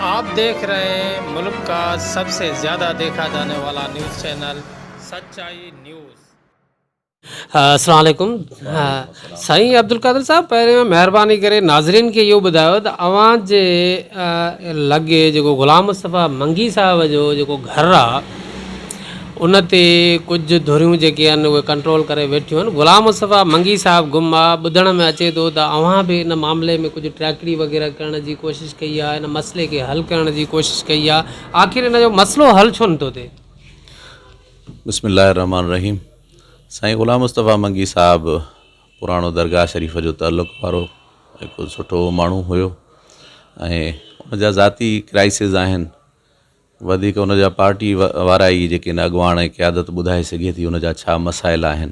آپ ديکھ رھي ھين ملڪ کا سب سي زياده ديکھا جاني والا نيوز چينل سچائي نيوز. السلام عليڪم سائين عبدالقادر صاحب پهريون مهرباني ڪري ناظرين کي اهو ٻڌايو ته اوهان جي لڳي جيڪو غلام مصطفيٰ منگي صاحب جو جيڪو گهر آ ان تي ڪجهه ڌريون جيڪي آهن اهي ڪنٽرول ڪري ويٺيون آهن غلام مصطفيٰ منگي صاحب گم آهي ٻڌڻ ۾ اچي ٿو ته اوهان به ان معاملي ۾ ڪجهه ٽيڪڙي وغيره ڪرڻ جي ڪوشش ڪئي آهي ان مسئلي کي حل ڪرڻ جي ڪوشش ڪئي آهي آخر ان جو مسئلو حل ڇو نٿو ٿئي بسم الله الرحمٰن الرحيم سائين غلام مصطفيٰ منگي صاحب پراڻو درگاهه شريف جو تعلق وارو هڪ سٺو ماڻهو هيو ۽ ان جا ذاتي ڪرائسز آهن وڌيڪ ان جا پارٽي وارا ئي جيڪي ان اڳواڻ ۽ قيادت ٻڌائي سگهي ٿي ان جا ڇا مسائل آهن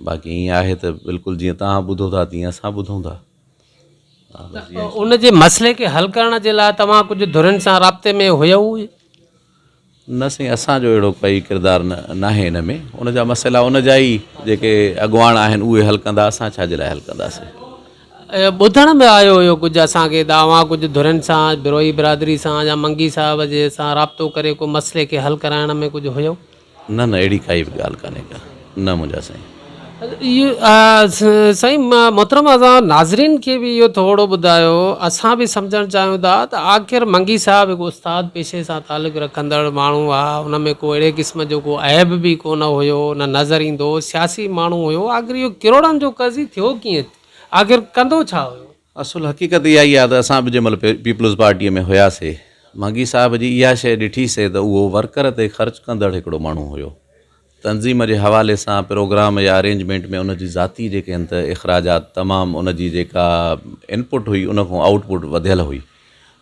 باقي ائين آهي ته بلڪل جيئن توهان ٻڌو ٿا تيئن اسان ٻڌون ٿا. ان جي مسئلي کي حل ڪرڻ جي لاء توهان ڪجهه ڌرين سان رابطي ۾ هيو؟ نه سائين اسان جو اهڙو ڪائي ڪردار ناهي ان ۾ ان جا مسئلا ان جا ئي جيڪي اڳواڻ آهن اهي حل ڪندا اسان ڇا جي لاء حل ڪنداسين. ٻڌڻ ۾ آيو هيو ڪجهه اسان کي ته اوهان ڪجهه ڌرين سان، بروهي برادري سان يا منگي صاحب جي سان رابطو ڪري ڪو مسئلي کي حل ڪرائڻ ۾ ڪجهه هيو؟ نه نه اهڙي ڪائي به ڳالهه ڪانهي ڪا نه منهنجا سائين. سائين محترم اسان ناظرين کي به اهو ٿورڙو ٻڌايو اسان به سمجهڻ چاهيون ٿا ته آخر منگي صاحب هڪ استاد پيشي سان تعلق رکندڙ ماڻهو هئا ان ۾ ڪو اهڙي قسم جو ڪو عيب به ڪونه هيو نه نظر ايندو هو سياسي ماڻهو هيو آخر اهو ڪروڙن جو قرض ئي ٿيو ڪيئن ٿي؟ آخر ڪندو ڇا هيو؟ اصل حقيقت اها ئي آهي ته اسان به جنهن مهل پيپلز پارٽيء ۾ هياسي، مانگي صاحب جي اها شيء ڏٺي سي ته اهو ورڪر تي خرچ ڪندڙ هڪڙو ماڻهو هيو. تنظيم جي حوالي سان پروگرام يا ارينجمينٽ ۾ ان جي ذاتي جيڪي هن ته اخراجات تمام ان جي جيڪا ان پٽ هئي ان کان آئوٽ پٽ وڌيل هئي.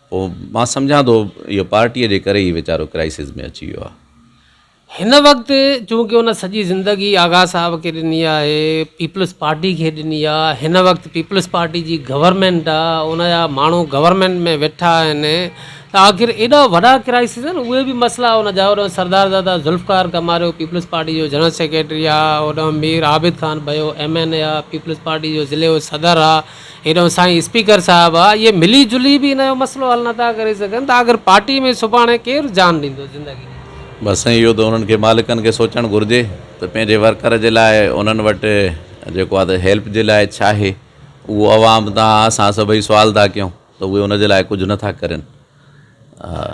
پوء مان سمجهان ٿو اهو پارٽيء جي ڪري ئي ويچارو ڪرائسز ۾ اچي ويو آهي. هن وقت چونڪه هن سڄي زندگي آغا صاحب کي ڏني آهي، پيپلز پارٽي کي ڏني آ، هن وقت پيپلز پارٽي جي گورنمينٽ آ، ان جا ماڻهو گورنمينٽ ۾ ويٺا آهن ته آخر ايڏا وڏا ڪرائسز آهن اهي به مسئلا هن جا هوڏانهن سردارزاده ذوالفقار ڪماريو پيپلز پارٽي جو جنرل سيڪريٽري آ، هوڏانهن Mir Abid Khan Bhayo M N A آ، پيپلز پارٽي جو ضلعي جو صدر آ، هيڏانهن سائين اسپيڪر صاحب آ اهي ملي جلي به ان جو مسئلو حل نٿا ڪري سگهن ته آخر پارٽي ۾ سڀاڻي ڪير جان ڏيندو زندگي ڏيندو. بس سائين اهو ته انهن کي مالڪن کي سوچڻ گهرجي ته پنهنجي ورڪر جي لاء انهن وٽ جيڪو آ ته هيلپ جي لاء ڇا آهي اهو عوام تان اسان سڀئي سوال ٿا ڪيون. ته اهي ان جي لاء ڪجهه نه ٿا ڪرين ها.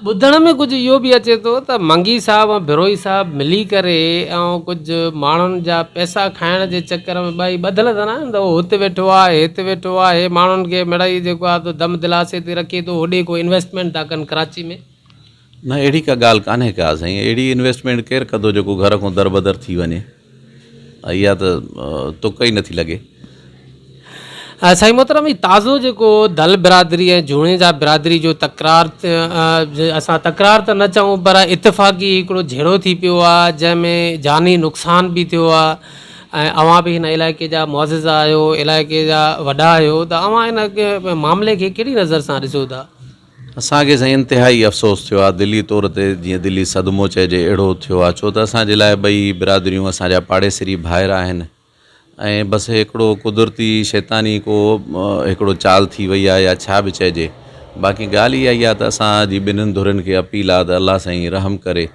ٻڌڻ ۾ ڪجهه اهو به اچي ٿو ته منگي صاحب ۽ بروهي صاحب ملي ڪري ۽ ڪجهه ماڻهن جا پئسا کائڻ جي چڪر ۾ ٻئي ٻڌل ته ناهن ته هو هت ويٺو آهي هت ويٺو آهي ماڻهن کي مڙئي جيڪو آهي دم دلاسي تي رکي ٿو هوڏي ڪو انويسٽمينٽ ٿا ڪن ڪراچي ۾ نه اهڙي ڪا ڳالهه ڪانهي ڪا سائين اهڙي انويسٽمينٽ ڪير ڪندو جيڪو گهر کان دربدر ٿي وڃي اها ته تڪ ئي نٿي لڳي. سائين محترم هي تازو جيڪو دل برادري ۽ جوڻيجا برادري جو تڪرار اسان تڪرار ته نه چئون پر اتفاقي هڪڙو جهيڙو ٿي پيو آ جنهن ۾ جاني نقصان به ٿيو آ ۽ اوهان به هن علائقي جا معزز آهيو علائقي جا وڏا آهيو ته اوهان هن معاملي کي ڪهڙي نظر سان ڏسو ٿا اسان کي سائين انتهائي افسوس ٿيو آ، دلي طور تي جيئن دلي صدمو چئجي اهڙو ٿيو آ، ڇو ته اسان جي لاء ٻئي برادريون اسان جا پاڙيسري ڀائر آهن ۽ بس هڪڙو قدرتي شيطاني ڪو هڪڙو چال ٿي وئي آ يا ڇا به چئجي باقي ڳالهه اها ئي آ ته اسان جي ٻنهن ڌرين کي اپيل آ ته الله سائين رحم ڪري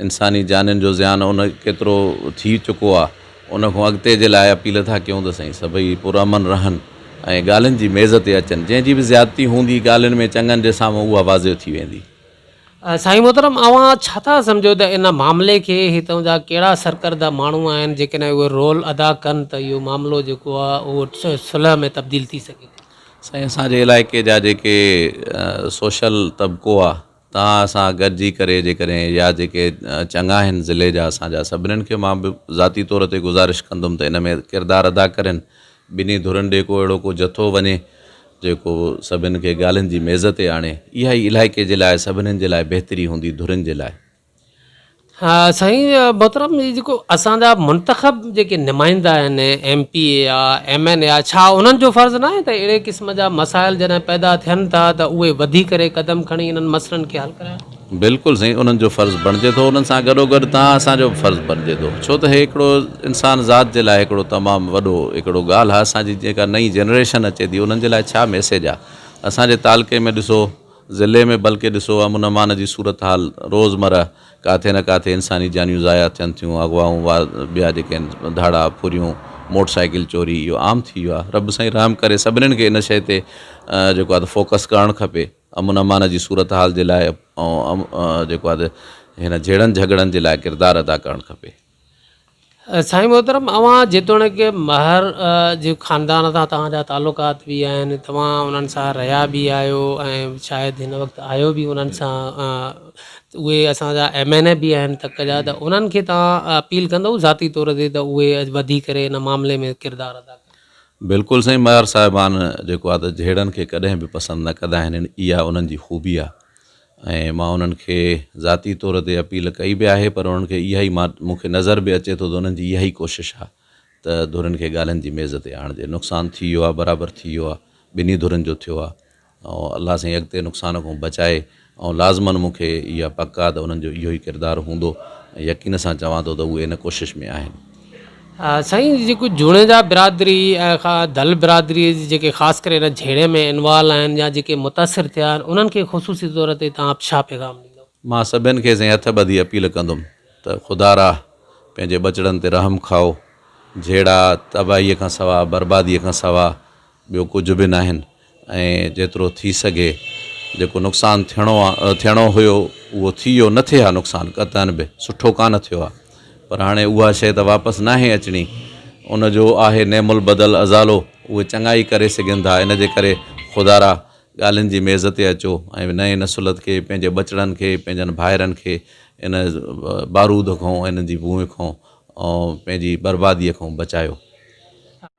انساني جانين جو زيان ان ڪيترو ٿي چڪو آ ان کون اڳتي جي لاء اپيل ٿا ڪيون ته سائين سڀئي پرامن رهن ۽ ڳالهين جي ميز تي اچن جنهن جي به زيادتي هوندي ڳالهين ۾ چڱن جي سامهون اها واضح ٿي ويندي. سائين محترم اوهان ڇا ٿا سمجهو ته ان معاملي کي هتان جا ڪهڙا سرڪرده ماڻهو آهن جيڪڏهن اهي رول ادا ڪن ته اهو معاملو جيڪو آ اهو صلح ۾ تبديل ٿي سگهي ٿي. سائين اسان جي علائقي جا جيڪي سوشل طبقو آ. توهان سان گڏجي ڪري جيڪڏهن يا جيڪي چڱا آهن ضلعي جا اسان جا سڀنن کي مان به ذاتي طور تي گذارش ڪندم ته ان ۾ ڪردار ادا ڪرين ٻنهي ڌرين ڏي ڪو اهڙو ڪو جٿو وڃي جيڪو سڀنن کي ڳالهين جي ميز تي آڻي اها ئي علائقي جي لاء سڀنن جي لاء بهتري هوندي ڌرين جي لاء. سائين محترم هي جيڪو اسان جا منتخب جيڪي نمائندا آهن ايم پي اي آ ايم اين اي آ ڇا انهن جو فرض ناهي ته اهڙي قسم جا مسائل جڏهن پيدا ٿين ٿا ته اهي وڌي ڪري قدم کڻي انهن مسئلن کي حل ڪراين. بلڪل سائين انهن جو فرض بڻجي ٿو انهن سان گڏو گڏ توهان اسان جو به فرض بڻجي ٿو ڇو ته هي هڪڙو انسان ذات جي لاء هڪڙو تمام وڏو هڪڙو ڳالهه آ اسان جي جيڪا نئين جنريشن اچي ٿي انهن جي لاء ڇا ميسيج آ اسان جي تعلقي ۾ ڏسو ضلعي ۾ بلڪه ڏسو امن امان جي صورتحال روزمره ڪاٿي نه ڪاٿي انساني جانيون ضايع ٿين ٿيون اغوائون وا ٻيا جيڪي آهن ڌاڙا ڦريون موٽر سائيڪل چوري اهو عام ٿي ويو آهي رب سائين رحم ڪري سڀنين کي ان شئي تي جيڪو آهي فوڪس ڪرڻ کپي امن امان جي صورتحال جي لاء ۽ جيڪو آهي هن جهيڙن جهڳڙن جي لاء ڪردار ادا ڪرڻ کپي سائين محترم اوهان جيتوڻيڪ مهر جي خاندان سان توهان جا تعلقات به آهن توهان انهن سان رهيا به آهيو ۽ شايد هن وقت آهيو به انهن سان اهي اسان جا ايم اين اي به آهن تڪ جا ته انهن کي توهان اپيل ڪندو ذاتي طور تي ته اهي وڌي ڪري ان معاملي ۾ ڪردار ادا ڪن بلڪل سائين مهر صاحبان جيڪو آهي ته جهيڙن کي ڪڏهن به پسند نه ڪندا آهن اها انهن جي خوبي آهي ۽ مان انهن کي ذاتي طور تي اپيل ڪئي به آهي پر انهن کي اها ئي مان مون کي نظر به اچي ٿو ته انهن جي اها ئي ڪوشش آهي ته ڌرين کي ڳالهين جي ميز تي آڻجي نقصان ٿي ويو آهي برابر ٿي ويو آهي ٻنهي ڌرين جو ٿيو آهي ۽ الله سائين اڳتي نقصان کان بچائي ۽ لازمن مون کي اها پڪ آهي ته انهن جو اهو ئي ڪردار هوندو ۽ يقين سان چوان ٿو ته اهي ان ڪوشش ۾ آهن سائين جيڪو جوڻيجا برادري ۽ دل برادري جي جيڪي خاص ڪري هن جهيڙي ۾ انوالو آهن يا جيڪي متاثر ٿيا آهن انهن کي خصوصي طور تي توهان ڇا پيغام ڏيندو. مان سڀين کي سائين هٿ ٻڌي اپيل ڪندم ته خدا را پنهنجي ٻچڙن تي رحم کائو جهيڙا تباهي کان سوا بربادي کان سوا ٻيو ڪجهه به ناهن. ۽ جيترو ٿي سگهي جيڪو نقصان ٿيڻو آ ٿيڻو هيو اهو ٿي ويو نه ٿئي ها نقصان قطعاً به سٺو ڪانه ٿيو آ پر هاڻي اها شئي ته واپس ناهي اچڻي ان جو آهي نعم البدل ازالو اهي چڱائي ڪري سگهن ٿا ان جي ڪري خدا را ڳالهين جي ميز تي اچو ۽ نئين نسلت کي پنهنجي ٻچڙن کي پنهنجن ڀائرن کي ان بارود کون ان جي بونء کون پنهنجي برباديء کون بچايو.